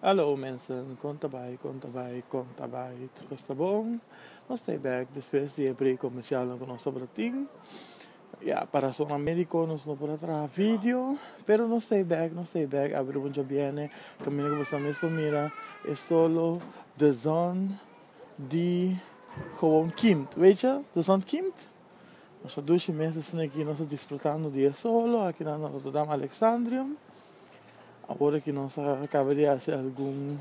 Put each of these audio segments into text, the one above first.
Hallo mensen, kon ta bai, kon ta bai, kon ta bai? Tur kos ta bon? Nos ta e bek despues di e break komersialnan ku nos tabata tin. Ya, pa rasonnan mediko nos no por a traha video, pero nos ta e bek, nos ta e bek. Abri buncha biene, kaminda ku boso mes por mira e solo The Zon di Gewoon Kimt. Weetje? The Zon Kimt? Nos a dushi mes esaki nos a disfrutando di e solo aki na Rotterdam Alexandrium. Awor ki nos a kaba di hasi algun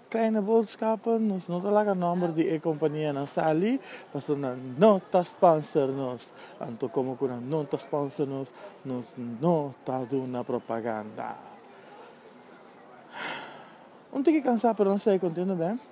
kleine boodskappen, nos no ta laga nòmber di e kompanianan sali, pasobra nan no ta spònser nos. Anto komo ku nan no ta spònser nos, nos no ta duna propaganda. Un tiki kansá, pero nos sigue kontento, b'e.